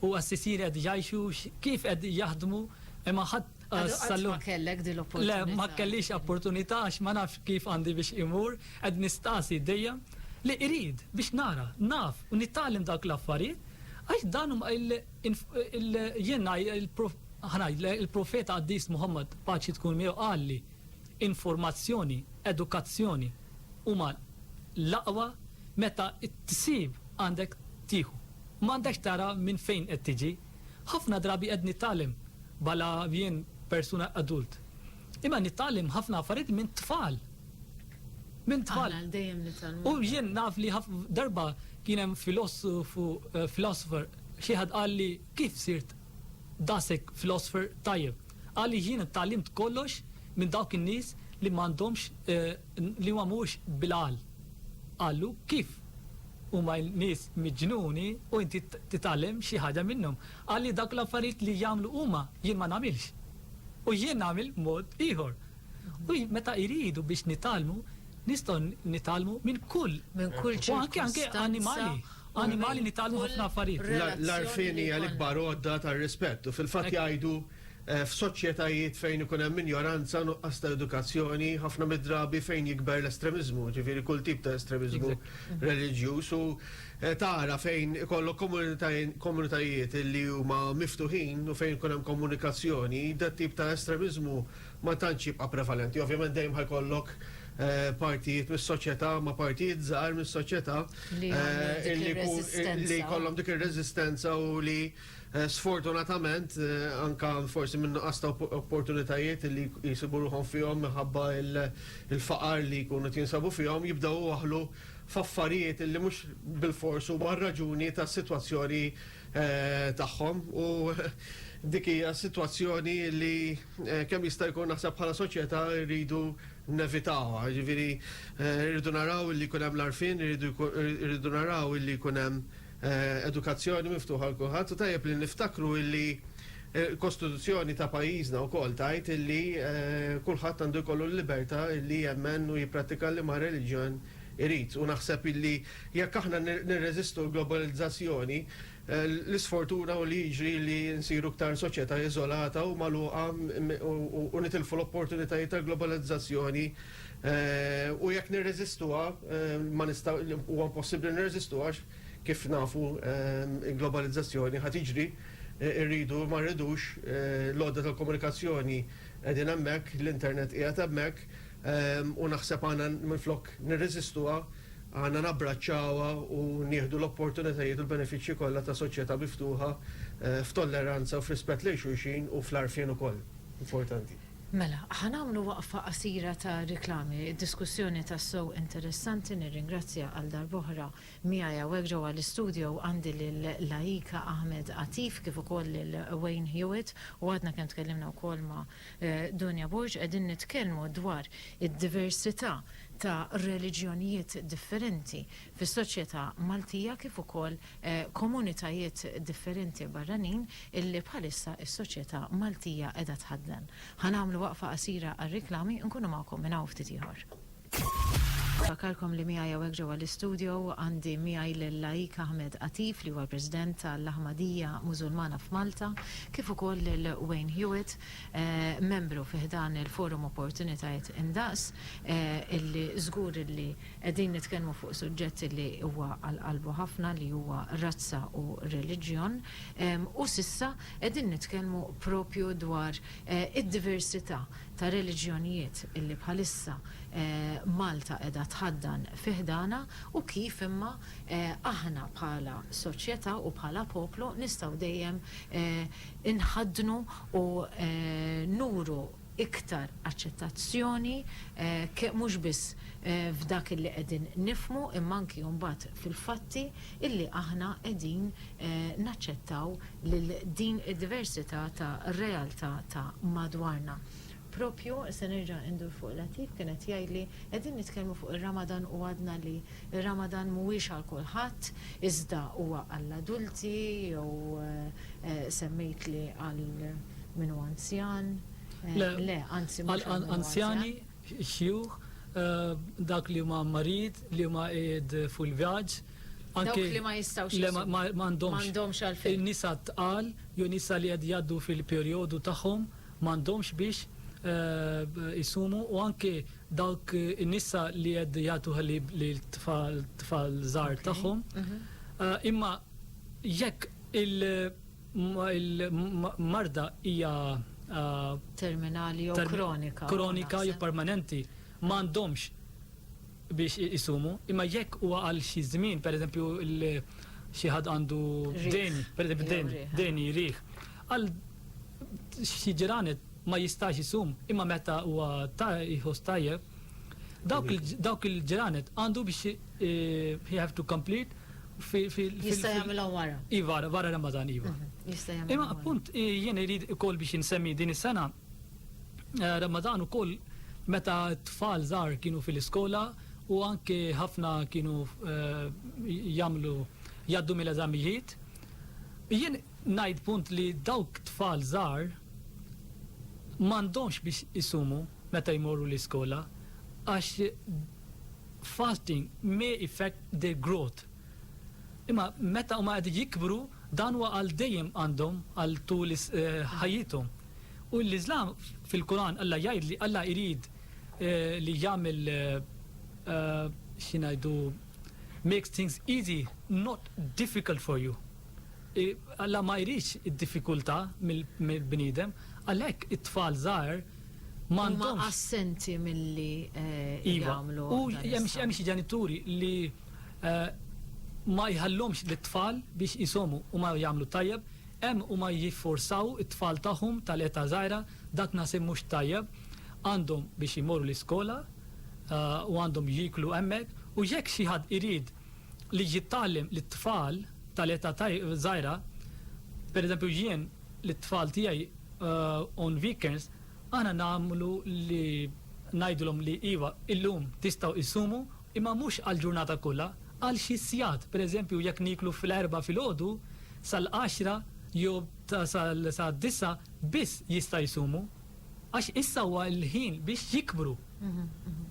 u assisieri qed jgħixu, kif qed jaħdmu, imma ħadd, Qatt ma kellek din l-opportunità. Le, ma kellix opportunità għax ma nafx kif għandi biex imur, qed nistaqsi dejjem li irid biex nara, naf u nitgħallem dawk l-affarijiet għax dan huma il, jien ħa ngħidlek il-Profeta Qaddis Muħammad paċi tkun miegħu qalli informazzjoni, edukazzjoni huma l-aqwa meta tsib għandek tieħu. M'għandekx tara minn fejn qed tiġi. Ħafna drabi qed nittgħallem bhala jien persuna adult. Imma nittgħallem ħafna affarijiet minn tfal. Minn tfal. Aħna dejjem nitgħallmu. U jien naf li darba kien hemm filosofu, eh, philosopher, xi ħadd qal li kif sirt dasek philosopher tajjeb. Qal li jien tgħallimt kollox minn dawk in-nies li m'għandhomx eh, li ma mhux bil-għal. Qallu, Kif? Huma nies miġnuni u inti titgħallem xi ħaġa minnhom? Qal li dawk l-affarijiet li jagħmlu huma, jien ma nagħmilx. U jien nagħmel mod ieħor. U meta jridu biex nitgħallmu, nistgħu nitgħallmu minn kull Minn kull u anke anke ċirkustanza annimali. u Annimali minn nitgħallmu kull ħafna affarijiet. L-għarfien hija relazzjoni. l-ikbar għodda tar-rispett u fil-fatt Hekk. jgħidu F'soċjetajiet fejn ikun hemm injoranza, nuqqas ta' edukazzjoni, ħafna mid-drabi fejn jikber l-estremiżmu, ġifieri kull tip ta' estremiżmu reliġjuż u tara fejn ikollok komunitajiet li huma miftuħin u fejn ikun hemm komunikazzjoni, dat tip ta' estremiżmu ma tantx jibqa' prevalenti. Ovvjament dejjem ħa jkollok partijiet mis-soċjetà ma' partijiet żgħar mis-soċjetà li jkun li jkollhom dik ir-reżistenza u li Sfortunatament, anke forsi minn nuqqas ta' opportunitajiet li jsibu ruħhom fihom minħabba l-faqar li jkunu qed jinsabu fihom, jibdew iwaħħlu f'affarijiet li mhux bilfors huma r-raġuni tas-sitwazzjoni tagħhom u dik hija sitwazzjoni li kemm jista' jkun naħseb bħala soċjetà rridu nevitawha. Jiġifieri rridu naraw li jkun hemm l-għarfien, irridu naraw li jkun hemm. edukazzjoni miftuħa għal kulħadd u tajjeb li niftakru illi l-Kostituzzjoni ta' pajjiżna wkoll tgħid illi kulħadd għandu jkollu l-libertà illi jemmen u jipprattika liema reliġjon irid. U naħseb illi jekk aħna nirreżistu l-globalizzazzjoni, l-isfortuna hu li jiġri li nsiru iktar soċjetà iżolata u magħluqa u nitilfu l-opportunitajiet tal-globalizzazzjoni U jekk nirreżistuha, ma nista', huwa impossibbli nirreżistu għax, kif nafu, il-globalizzazzjoni ħa tiġri, irridu jew ma rridux, l-għodda tal-komunikazzjoni qegħdin hemmhekk, l-internet qiegħed hemmhekk, u naħseb għandna minflok nirreżistuha, għandna nabbraċċawha u nieħdu l-opportunitajiet u l-benefiċċji kollha ta' soċjetà miftuħa f'tolleranza u f'rispett lejn xulxin u fl-għarfien ukoll. Importanti. Mela, ħa nagħmlu waqfa qasira ta' riklami. Diskussjoni tassew interessanti, nirringrazzja għal darb'oħra, miegħi hawnhekk ġewwa l-istudio għandi lil Laika Ahmed Atif kif ukoll lil Wayne Hewitt u għadna kemm tkellimna wkoll ma' Dunja Borg. Qegħdin nitkellmu dwar id-diversità ta' reliġjonijiet differenti fis-soċjetà Maltija kif ukoll komunitajiet differenti barranin illi bħalissa s-soċjetà Maltija qiegħda tħaddan. Ħa nagħmlu waqfa qasira għar-riklami, nkunu magħkom minn hawn ftit ieħor. Nfakkarkom li miegħi hawnhekk ġewwa l-istudio għandi miegħi lil Laik Ahmed Atif li huwa l-President tal-Ahmadiyya Mużulmana f'Malta, kif ukoll lil Wayne Hewitt, membru fi ħdan il-Forum Opportunitajiet Indaqs, illi żgur illi Qegħdin nitkellmu fuq suġġett li huwa għal qalbu ħafna li huwa razza u reliġjon u s'issa qegħdin nitkellmu propju dwar id-diversità ta' reliġjonijiet li bħalissa Malta qiegħda tħaddan fi ħdanha u kif imma aħna bħala soċjetà u bħala poplu nistgħu dejjem inħaddnu u nuru iktar aċċettazzjoni ke mhux biss f'dak illi qegħdin nifhmu imma anki mbagħad fil-fatti illi aħna qegħdin naċċettaw lil din id-diversità ta' realtà ta' madwarna. Proprju, se nerġa' indur fuq Latif, kien qed jgħidli, qegħdin nitkellmu fuq ir-Ramadan u għadna li, Ir-Ramadan mhuwiex għal kulħadd, iżda huwa għall-adulti jew semmejt li għal min hu anzjan? Le. Le, anzi mhux għal min hu anzjan. Għall-anzjani, xjuħ, dawk li huma marid, li huma qiegħed fuq il-vjaġġ, anke Dawk li ma jistgħux Le, ma jsumu. għandhomx. M'għandhomx għalfejn. In-nisa t-tqal jew nisa li qed jgħaddu fil-perjodu tagħhom m'għandhomx biex isumu u anke dawk in-nisa li qed jagħtu ħalib lill-tfal tfal żgħar tagħhom. Imma jekk il-marda hija terminali jew kronika jew permanenti m'għandhomx biex isumu, imma jekk huwa għal xi żmien, pereżempju xi ħadd għandu deni, pereżempju deni, deni jrih, għal xi ġranet ma jistax isum, imma meta huwa ta' jħoss tajjeb, dawk il-ġranet għandu biex eh, he have to complete Jista' jagħmilha wara. Iva, wara Ramadan, iva. Mhm, jista' jagħmilha. Imma appunt eh, jien irid ukoll biex insemmi din is-sena Ramadan ukoll meta t-tfal żgħar kienu fil-iskola u anke ħafna kienu jagħmlu jgħaddu mill-eżamijiet. Jien ngħid punt li dawk tfal żgħar m'għandhomx biex isumu meta jmorru l-iskola għax fasting may effect their growth. Imma meta huma qegħdin jikbru, dan huwa għal dejjem għandhom għal tul ħajjithom. U l-Iżlam fil-Quran Alla jgħid li Alla jrid li jagħmel x'ingħidu makes things easy not difficult for you. Alla ma jridx id-diffikultà mill-bniedem, għalhekk it-tfal żgħar, m'għandhomx. Huma assenti milli jagħmlu dan is-saħħ. Iva, u hemm xi ġenituri li ma jħallhomx lit-tfal biex isomu u ma jagħmlu tajjeb, hemm huma jifforzaw it-tfal tagħhom tal-età żgħira, dak naħseb mhux tajjeb, għandhom biex imorru l-iskola u għandhom jieklu hemmhekk u jekk xi ħadd irid li jitgħallem lit-tfal tal-età żgħira, pereżempju jien, lit-tfal tiegħi on weekends aħna nagħmlu li ngħidulhom li iva illum tistgħu issumu imma mhux għall-ġurnata kollha għal xi sigħat pereżempju jekk nieklu fl-Erbgħa filgħodu sal-għaxra jew sad-disgħa biss jista' jsumu għax issa huwa l-ħin biex jikbru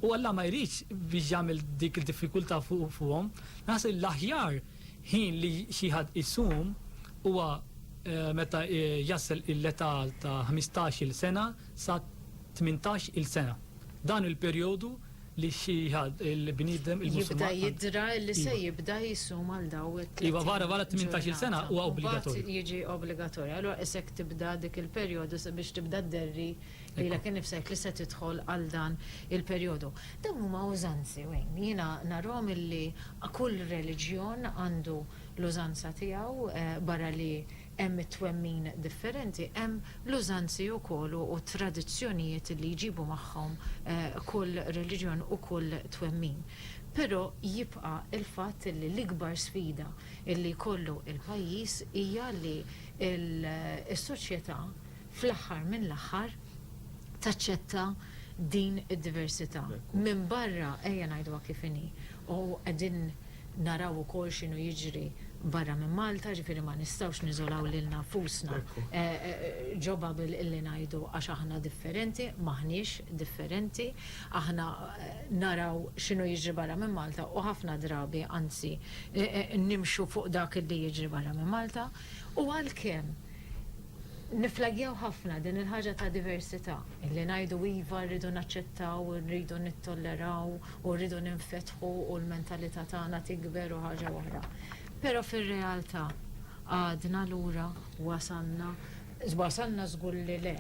u Alla ma jridx biex jagħmel dik id-diffikultà fuqhom naħseb li l-aħjar Ħin li xi ħadd isum huwa meta jasal l-età ta' ħmistax-il sena sa tmintax-il sena. Dan hu l-perjodu li xi ħadd, il-bniedem, il-Musulman. Jibda jidra li se jibda jsum għal dawk it-tletin ġurnata. Iva, wara t-tmintax-il sena huwa obbligatorju. Mbagħad jiġi obbligatorju. Allura qisek tibda dik il-perjodu sabiex tibda dderri lilek innifsek li se tidħol għal dan il-perjodu. Dawn huma użanzi, Wayne. Jiena narahom illi kull reliġjon għandu l-użanza tiegħu, barra li hemm it-twemmin differenti, hemm l-użanzi wkoll u t-tradizzjonijiet illi jġibu magħhom kull reliġjon u kull twemmin. Però jibqa' l-fatt illi l-ikbar sfida illi jkollu l-pajjiż hija li s-soċjetà, fl-aħħar mill-aħħar taċċetta din id-diversità. Minbarra, ejja ngħiduha kif inhi, u qegħdin naraw ukoll x'inhu jiġri barra minn Malta, ġifieri ma nistgħux niżolaw lilna nfusna ġo bubble illi ngħidu għax aħna differenti, m'aħniex differenti. Aħna naraw x'inhu jiġri barra minn Malta u ħafna drabi anzi nimxu fuq dak illi jiġri barra minn Malta u għalkemm Nifflaggjaw ħafna din il-ħaġa ta' diversità, illi ngħidu iva rridu naċċettaw, irridu nittolleraw u rridu ninfetħu u l-mentalità tagħna tikber u ħaġa oħra. Però fir-realtà għadna lura, wasalna, wasalna żgur li le,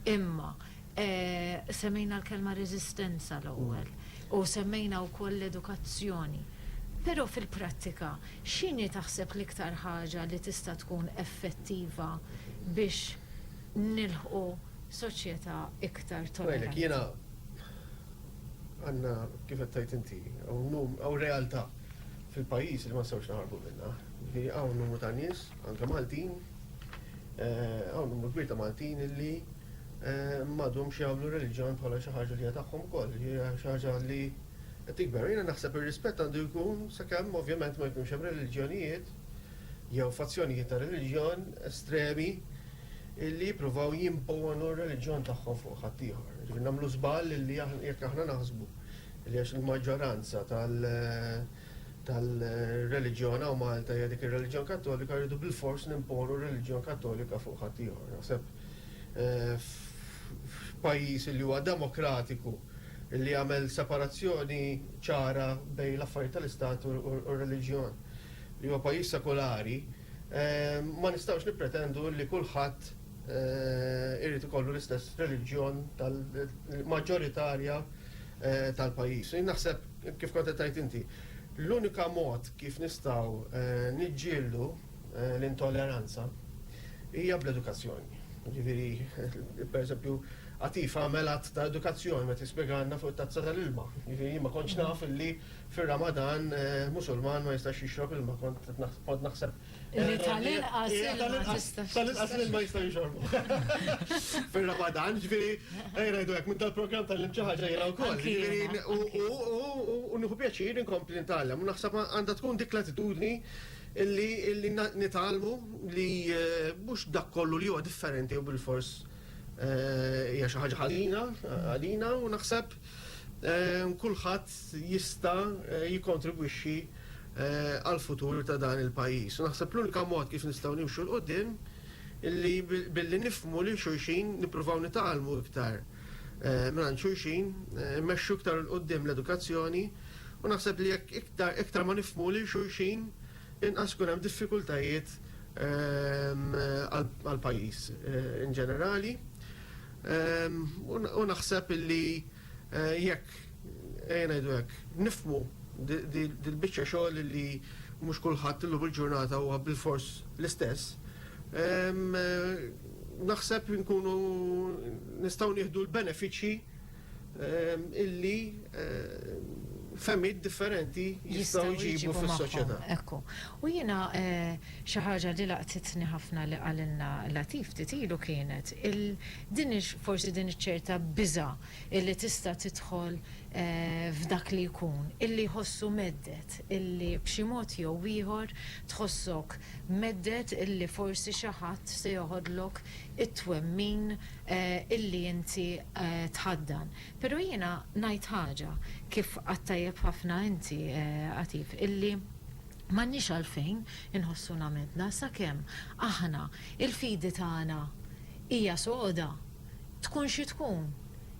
imma Semmejna l-kelma reżistenza l-ewwel u semmejna wkoll l-edukazzjoni. Però fil-prattika, x'inhi taħseb l-iktar ħaġa li tista' tkun effettiva biex nilħqu soċjetà iktar tolleranti? Jiena għandna, kif qed tgħid inti, hawn realtà fil-pajjiż li ma nistgħux naħarbu minnha. Jiġifieri hawn numru ta' nies, anke Maltin, hawn numru kbir ta' Maltin li m'għadhomx jagħmlu reliġjon bħala xi ħaġa li hija tagħhom ukoll, hija xi ħaġa li qed tikber. Jiena naħseb ir-rispett għandu jkun sakemm ovvjament ma jkunx hemm reliġjonijiet jew fazzjonijiet ta' reliġjon estremi li jippruvaw jimponu r-reliġjon tagħhom fuq ħaddieħor. Ġifieri nagħmlu żball li jekk aħna naħsbu li għax il-maġġoranza tal tal-reliġjon hawn Malta hija dik ir-reliġjon Kattolika rridu bilfors nimponu r-reliġjon Kattolika fuq ħaddieħor. Naħseb f'pajjiż li huwa demokratiku li jagħmel separazzjoni ċara bejn l-affarijiet tal-istat u r-reliġjon, li huwa pajjiż sekulari, ma nistgħux nippretendu li kulħadd irid ikollu l-istess reliġjon tal-maġġoritarja tal-pajjiż. Jien naħseb, kif kont qed tgħid inti, l-unika mod kif nistgħu niġġieldu, l-intolleranza hija bl-edukazzjoni. Jiġifieri, pereżempju, Atif għamel att ta' edukazzjoni meta spjegalna fuq it-tazza tal-ilma. Jiġifieri jien ma kontx naf illi fir-Ramadan Musulman ma jistax jixrob ilma, kont naħseb. Illi tal-inqas ilma ma jistax. Tal-inqas l-ilma jista' jixorbu. Fir-Ramadan, jiġifieri, ejja ngħidu hekk, minn tal-programm tgħallimt xi ħaġa jiena wkoll. Jiġifieri, u nieħu pjaċir inkompli ntgħallem u naħseb għandha tkun dik l-attitudni. Illi illi nitgħallmu li mhux dak kollu li huwa differenti jew bilfors hija xi ħaġa ħażina għalina u naħseb kulħadd jista' jikkontribwixxi għall-futur ta' dan il-pajjiż. U naħseb l-unika mod kif nistgħu nimxu 'l quddiem illi billi nifhmu lil xulxin, nippruvaw nitgħallmu iktar. mingħand xulxin, immexxu iktar 'il quddiem l-edukazzjoni u naħseb li jekk iktar ma nifhmu lil xulxin, inqas ikun hemm diffikultajiet għall-pajjiż in ġenerali. U naħseb illi jekk, ejja ngħidu hekk, nifhmu dil-biċċa xogħol illi mhux kulħadd illum il-ġurnata huwa bilfors l-istess, naħseb li nkunu nistgħu nieħdu l-benefiċċji illi fehmiet differenti jistgħu jġibu fis-soċjetà. Ekku. U jiena xi ħaġa li laqtitni ħafna li qalilna Latif ftit ilu kienet din forsi din iċ-ċerta biża' illi tista' tidħol f'dak li jkun illi jħossu mhedded illi b'xi mod jew ieħor Tħossok mhedded illi forsi xi ħadd se joħodlok it-twemmin illi inti tħaddan. Pero' jiena ngħid ħaġa, kif għadt tajjeb ħafna inti, Għatif, illi m'għandniex għalfejn inħossuna mheddna sakemm aħna l-fidi tagħna hija soda, tkun xi tkun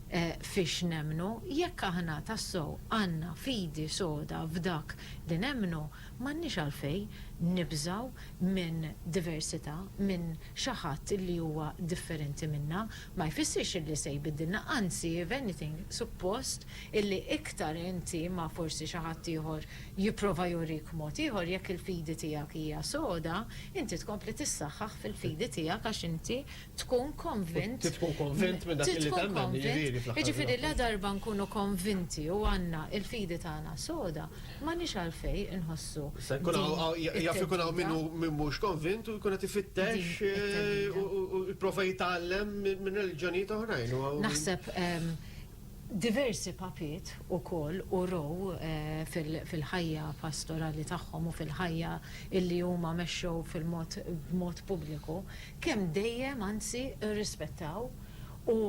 fiex nemmnu. Jekk aħna tassew għandna fidi soda f'dak li nemmnu, M'għandniex għalfejn nibżgħu minn diversità, minn xi ħadd li huwa differenti minna. Ma jfissirx illi se jbiddilna, anzi if anything, suppost illi iktar inti ma' forsi xi ħadd ieħor jipprova jurik mod ieħor, jekk il-fidi tiegħek hija soda, inti tkompli tissaħħaħ fil-fidi tiegħek għax inti tkun konvint. Trid tkun konvint minn dak li temmen, jiġifieri fl-aħħar. Jiġifieri la darba nkunu konvinti u għandna l-fidi tagħna soda, m'għandniex għalfejn inħossu. Se jkun hawn, jaf ikun hawn min hu min mhux konvint u jkun qed ifittex u jipprova jitgħallem minn reliġjonijiet oħrajn. Naħseb Diversi papiet ukoll urew fil-ħajja pastorali tagħhom u fil-ħajja illi huma mexxew fil-mod b'mod pubbliku kemm dejjem anzi rrispettaw u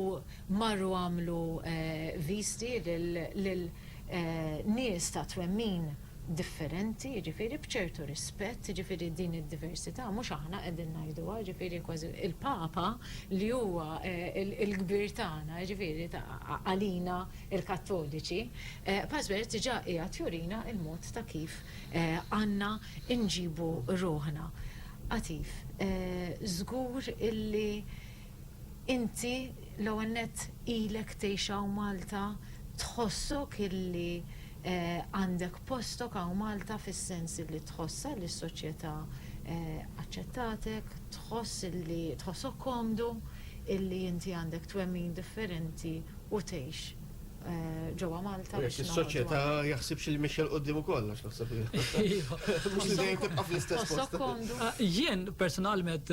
marru għamlu viżti lil nies ta' twemmin differenti, jiġifieri b'ċertu rispett, jiġifieri din id-diversità mhux aħna qegħdin ngħiduha, jiġifieri kważi l-Papa li huwa l-kbir tagħna, jiġifieri għalina l-Kattoliċi, Pasbert diġà qiegħed jurina l-mod ta' kif għandna nġibu ruħna. Għatif, żgur illi Inti l-ewwel nett ilek tgħix hawn Malta, tħossok illi għandek postok hawn Malta fis-sens illi tħossha li s-soċjetà aċċettatek, tħoss illi tħossok komdu illi inti għandek twemmin differenti u tgħix ġewwa Malta biex noħorġu. U jekk is-soċjetà jaħsibx illi mexja 'l quddiem ukoll għax naħseb illi mhux li dejjem tibqa' fl-istess post. Tħossok komdu? Jien personalment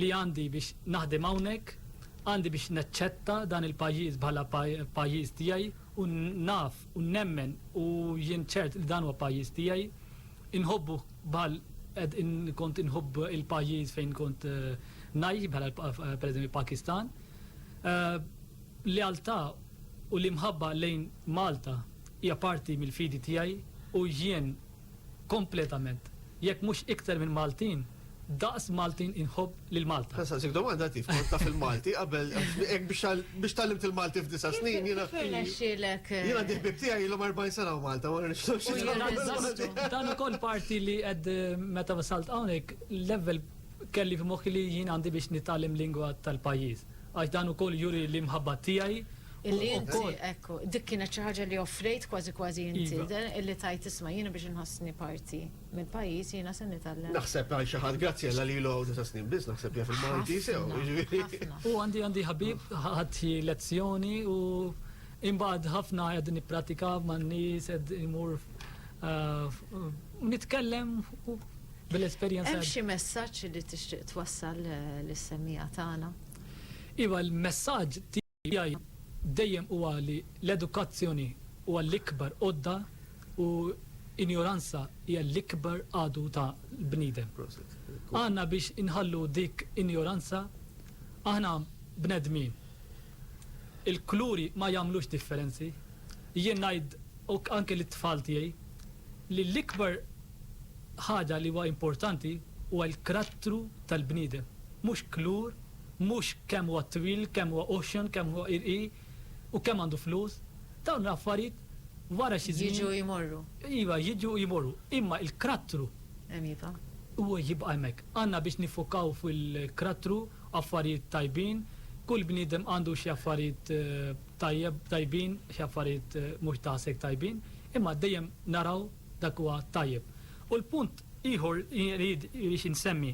li għandi biex naħdem hawnhekk, għandi biex naċċetta dan il-pajjiż bħala pajjiż tiegħi u naf u nemmen u jien ċert li dan huwa pajjiż tiegħi. Inħobbu bħal qed kont inħobb il-pajjiż fejn kont eh, ngħix bħala eh, pereżempju Pakistan. Eh, lealtà u l-imħabba lejn Malta hija parti mill-fidi tiegħi u jien kompletament, jekk mhux iktar minn Maltin, daqs Maltin inħobb lil Malta. Ħa nsaqsik domanda Tief, kont taf il-Malti qabel hekk biex tgħallimt il-Malti f'disa' snin jiena. Kif irnexxielek? Jien għandi ħbieb tiegħi ilhom 40 sena f'Malta, ma nafx x'inhu. Dan ukoll parti li qed meta wasalt hawnhekk, l-ewwel kelli f'moħħi li jien għandi biex nitgħallem lingwa tal-pajjiż. Għax dan ukoll juri l-imħabba tiegħi u Illi inti, wkoll. ekku, dik kienet xi ħaġa li offrejt kważi kważi inti, Iva. de, illi tgħid isma' jiena biex inħossni parti mill-pajjiż jiena se nitgħallem. Naħseb għal xi ħadd Graziella li ilu hawn disa' snin biss naħseb jaf il-Malti sew, Ħafna, jiġifieri. ħafna. U għandi għandi ħabib ħadt xi lezzjoni u imbagħad ħafna qed nipprattika man-nies qed imur eh, f- u nitkellem u Bil-esperjenza. Hemm xi messaġġ li tixtieq twassal lis-semmiegħa tagħna? Iva, l-messaġġ tiegħi dejjem huwa li l-edukazzjoni huwa l-ikbar għodda u injoranza hija l-ikbar għadu ta' l-bniedem. Għandna biex inħallu dik injoranza, aħna bnedmin. Il-kuluri ma jagħmlux differenzi. Jien ngħid u anke lit-tfal tiegħi, li l-ikbar ħaġa li huwa importanti huwa l-krattru tal-bniedem, mhux kulur, mhux kemm huwa twil, kemm huwa oxxon, kemm huwa irqi u kemm għandu flus. Dawn l-affarijiet wara xi żmien. Jiġu u jmorru. Iva, jiġu u jmorru, imma l-krattru. Hemm jibqa'. Huwa jibqa' hemmhekk. Għandna biex niffokaw fil-krattru, affarijiet tajbin. Kull bniedem għandu xi affarijiet. tajjeb, tajbin, xi affarijiet mhux daqshekk tajbin, imma dejjem naraw dak li huwa tajjeb. U l-punt ieħor li rrid insemmi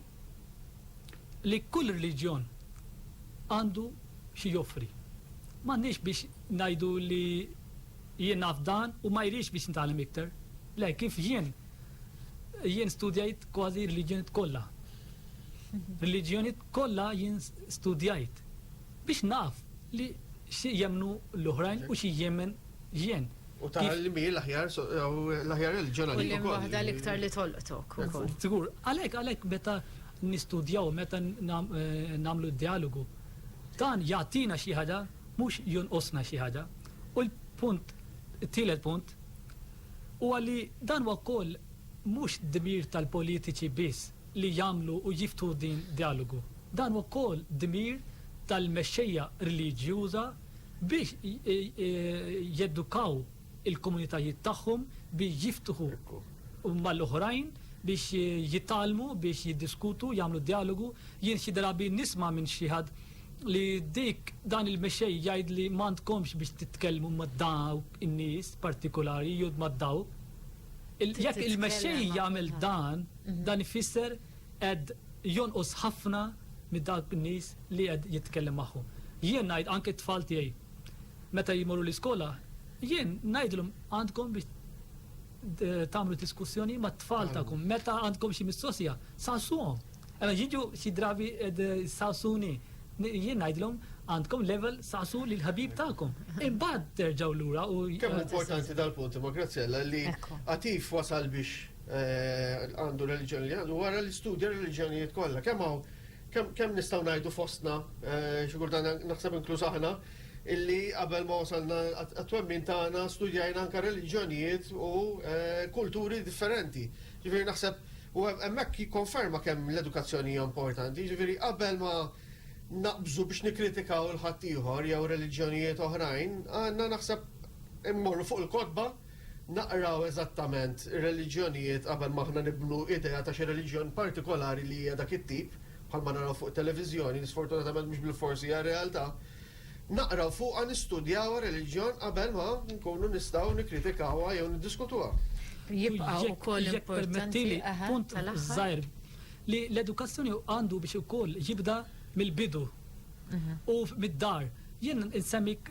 li kull reliġjon għandu xi joffri. M'għandniex biex ngħidu li jien naf dan u ma jridx biex nitgħallem iktar. Le, kif jien, jien studjajt kważi reliġjonijiet kollha. Reliġjonijiet kollha jien studjajt. Biex naf li xi jemmnu l-oħrajn u xi jemmen jien. U tara li mhi l-aħjar l-aħjar reliġjon għalik ukoll. U liema waħda l-iktar li tolqtok ukoll. Żgur. Għalhekk għalhekk meta nistudjaw, meta nagħmlu d-djalogu, dan jagħtina xi ħaġa mhux jonqosna xi ħaġa. U l-punt it-tielet punt huwa li dan huwa wkoll mhux dmir tal-politiċi biss. li jagħmlu u jiftħu din djalogu. Dan huwa wkoll dmir tal-mexxejja reliġjuża biex jedukaw il-komunitajiet tagħhom biex jiftħu mal-oħrajn biex jitgħallmu biex jiddiskutu jagħmlu djalogu. Jien xi drabi nisma' minn xi ħadd li dik dan il-mexxej jgħidli m'għandkomx biex titkellmu ma' dawk in-nies partikulari jew ma' dawk. Jekk il-mexxej jagħmel dan, Dan ifisser qed jonqos ħafna minn dawk in-nies li qed jitkellem magħhom. Jien ngħid anke t-tfal tiegħi meta jmorru l-iskola, jien ngħidilhom għandkom biex tagħmlu diskussjoni mat-tfal tagħkom, meta għandkom xi mistoqsija, saqsuhom. Ela jiġu xi drabi saqsuni, jien ngħidilhom għandkom level saqsu lil ħabib tagħkom. Imbagħad terġgħu lura u. Kemm importanti dal-punt imma Graziella li Atif wasal biex għandu reliġjoni li għandu, wara li studja reliġjonijiet kollha. Kemm hawn kemm nistgħu ngħidu fostna xi kultant naħseb inkluż aħna illi qabel ma wasalna għat-twemmin tagħna studjajna anke reliġjonijiet u kulturi differenti. Ġifieri naħseb u hemmhekk jikkonferma kemm l-edukazzjoni hija importanti. Ġifieri qabel ma naqbżu biex nikkritikaw il-ħaddieħor jew reliġjonijiet oħrajn, għandna naħseb immorru fuq il-kotba naqraw eżattament ir-reliġjonijiet qabel ma aħna nibnu idea ta' xi reliġjon partikolari li hija dak it-tip, bħalma naraw fuq it-televiżjoni li sfortunatament mhux bilfors hija r-realtà, naqraw fuqha, nistudjawha r-reliġjon qabel ma nkunu nistgħu nikkritikawha jew niddiskutuha. Jibqa' ukoll importanti, aha, tal-aħħar. li l-edukazzjoni għandu biex ukoll jibda mill-bidu u mid-dar. Jien insemmik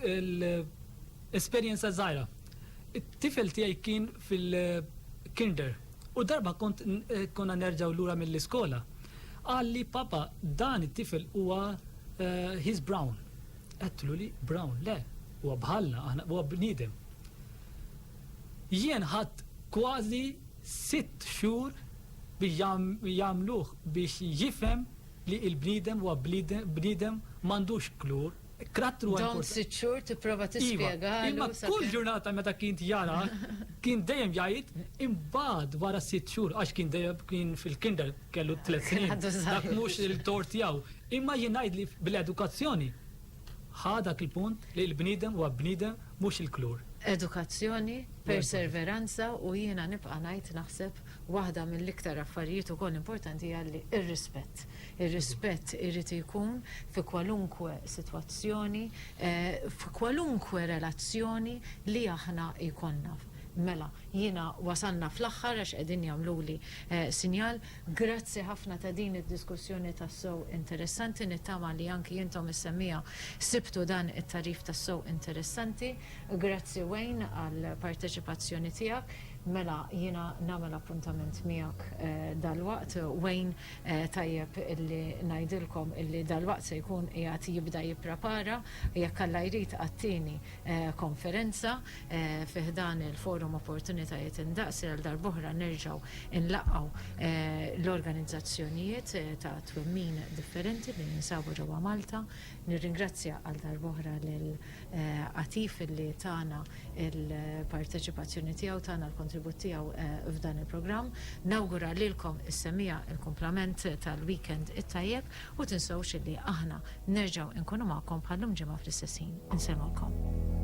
Esperjenza żgħira. It-tifel tiegħi kien fil-Kinder u darba kont konna nerġgħu lura mill-iskola, qalli, Papa, dan it-tifel huwa he's brown. Għedtlu li brown, le, huwa bħalna aħna, huwa bniedem. Jien ħadt kważi sitt xhur biex jagħmluh biex jifhem li l-bniedem huwa bniedem m'għandux klur, Karattru importanti. Dawn sitt xhur tipprova tispjegalu. Imma kull ġurnata meta kien jarak, kien dejjem jgħid imbagħad wara sitt xhur għax kien dejjem kien fil-kinder kellu tliet snin. Dak mhux il-tort tiegħu. Imma jien ngħid li bl-edukazzjoni ħa dak il-punt li l-bniedem huwa bniedem mhux il-klur. Edukazzjoni, perserveranza u jiena nibqa' ngħid naħseb waħda mill-iktar affarijiet ukoll importanti hija li r-rispett. Ir-rispett irid ikun fi kwalunkwe sitwazzjoni, f'kwalunkwe relazzjoni li aħna jkollna. Mela, jiena wasalna fl-aħħar għax qegħdin jagħmluli sinjal. Grazzi ħafna ta' din id-diskussjoni tassew interessanti. Nittama li anki intom is-semmiegħa sibtu dan it-tagħrif tassew interessanti. Grazzi Wayne għall-parteċipazzjoni tiegħek. Mela, jiena nagħmel appuntament miegħek dalwaqt, Wayne. Tajjeb illi ngħidilkom illi dalwaqt se jkun qiegħed jibda jipprepara, jekk Alla jrid, għat-tieni konferenza fi ħdan il-Forum Opportunitajiet Indaqs li għal darb'oħra nerġgħu nlaqgħu l-organizzazzjonijiet ta' twemmin differenti li jinsabu ġewwa Malta. Nirringrazzja għal darb'oħra lil Għatif li tana l-parteċipazzjoni tiegħu, tana l-kontribut tiegħu f'dan il-programm. Nawgura lilkom is-semmiegħa il-kumplament tal-weekend it-tajjeb u tinsewx illi aħna nerġgħu inkunu magħkom bħal lum ġimgħa fl-istess ħin. Insellmulkom.